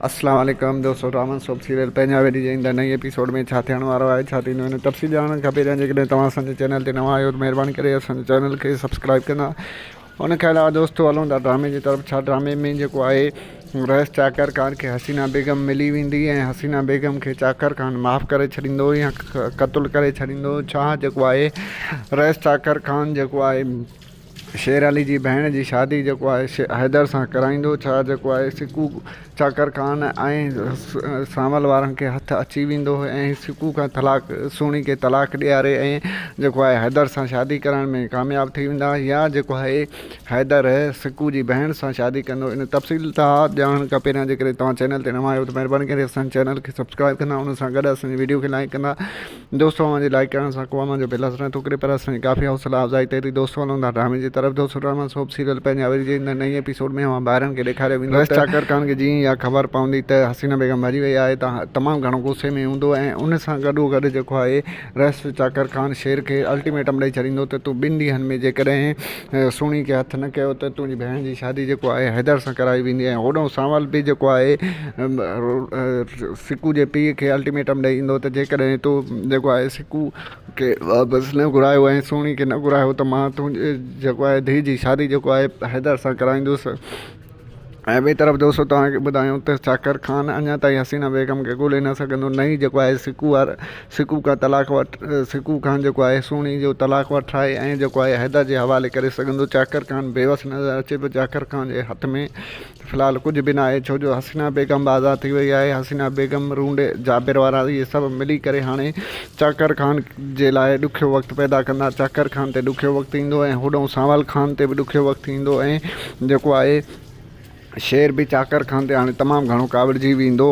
اسلام عليڪم دوستو رحمان سوڀ سيريل پنجاهه ويلي جي ايندڙ نئين ايپيسوڊ ۾ ڇا ٿيڻ وارو آهي ڇا ٿيندو ان تفصيل ڄاڻڻ کپي ته جيڪڏهن توهان اسان جي چينل تي نوان آهيو ته مهرباني ڪري اسان جي چينل کي سبسڪرائيب ڪندا ان کان علاوه دوستو هلون ٿا ڊرامي جي طرف ڇا ڊرامي ۾ جيڪو آهي رئيس چاڪر خان کي حسينا بيگم ملي ويندي ۽ حسينا بيگم کي چاڪر خان معاف ڪري ڇڏيندو يا قتل ڪري ڇڏيندو ڇا جيڪو آهي رئيس چاڪر خان جيڪو آهي شير علي جي ڀيڻ جي شادي جيڪو آهي سي حيدر سان ڪرائيندو ڇا جيڪو آهي سڪو چاڪر خان ۽ سانول وارن کي هٿ اچي ويندو ۽ سڪو کان طلاق سهڻي کي طلاق ڏياري ۽ جيڪو آهي حيدر سان شادي ڪرائڻ ۾ ڪامياب ٿي ويندا يا جيڪو آهي حيدر سڪو جي ڀيڻ سان شادي ڪندو ان تفصيل تان ڄاڻڻ کان پهريان جيڪڏهن توهان چينل تي نوان آهيو ته مهرباني ڪري اسان جي چينل کي سبسڪرائب ڪندا ان سان گڏ اسان جي وڊيو کي لائڪ ڪندا دوست اوهان جي لائيڪ ڪرڻ سان قوامن جو بل اسرڻ ٿو ڪري پر اسان جي ڪافي حوصلا افزائي تي ٿي دوستو هلون ٿا ڊرامي جي طرف دوستو ڊراما سوپ سيريل پنهنجا وري جي ايندڙ نئين ايپيسوڊ ۾ اوهان ڀائرن کي ڏيکاريو ويندو ته ويس چاڪر خان کي جيئن ئي اها خبر پوندي ته حسينه بيگم مري وئي آهي ته تمام گهڻو غصي ۾ هوندو ۽ ان سان گڏو گڏ جيڪو آهي ويس چاڪر خان شير کي الٽيميٽم ڏئي ڇڏيندو ته تون ٻن ڏينهن ۾ جيڪڏهن سهڻي کي هٿ نه ڪيو ته تنهنجي ڀيڻ جي شادي جيڪو آهي حيدر سان ڪرائي ويندي ۽ هوڏهون سانول به جيڪو آهي سڪو جي پيء کي الٽيميٽم ڏئي ايندو ته جيڪڏهن تو جيڪو آهي سڪو کي واپس نه گهرايو ۽ سهڻي کي نه گهرايو ته مان تنهنجي جيڪو آهي ڌيء جي شادي جيڪو آهي حيدر سان ڪرائيندس ۽ ٻئي طرف دوستو توهان کي ٻڌايون ته شاڪر خان اڃا تائين حسينا بيگم کي ڳولي نه سگهندو نه ئي جيڪو آهي سڪو وارو سڪو کان طلاق وٺ سڪو کان جيڪو آهي سهڻي جو طلاق وٺرائي ۽ جيڪو آهي حيدر جي حوالي ڪري سگهندو شاڪر خان بيوس نظر اچي ٿو شاڪر خان جي هٿ ۾ في الحال ڪجهه به ناهي ڇو جو حسينا بيگم به آزاد ٿي وئي آهي حسينا بيگم رونڊي جابر وارا اهي سڀ ملي ڪري هاڻي چاڪر خان جي لاء ڏکيو وقت پيدا ڪندا. چاڪر خان تي ڏکيو وقت ايندو ۽ هوڏانهن سانول خان تي به ڏکيو وقت ايندو ۽ جيڪو آهي شير به چاڪر خان تي هاڻي تمام گهڻو ڪاوڙجي ويندو.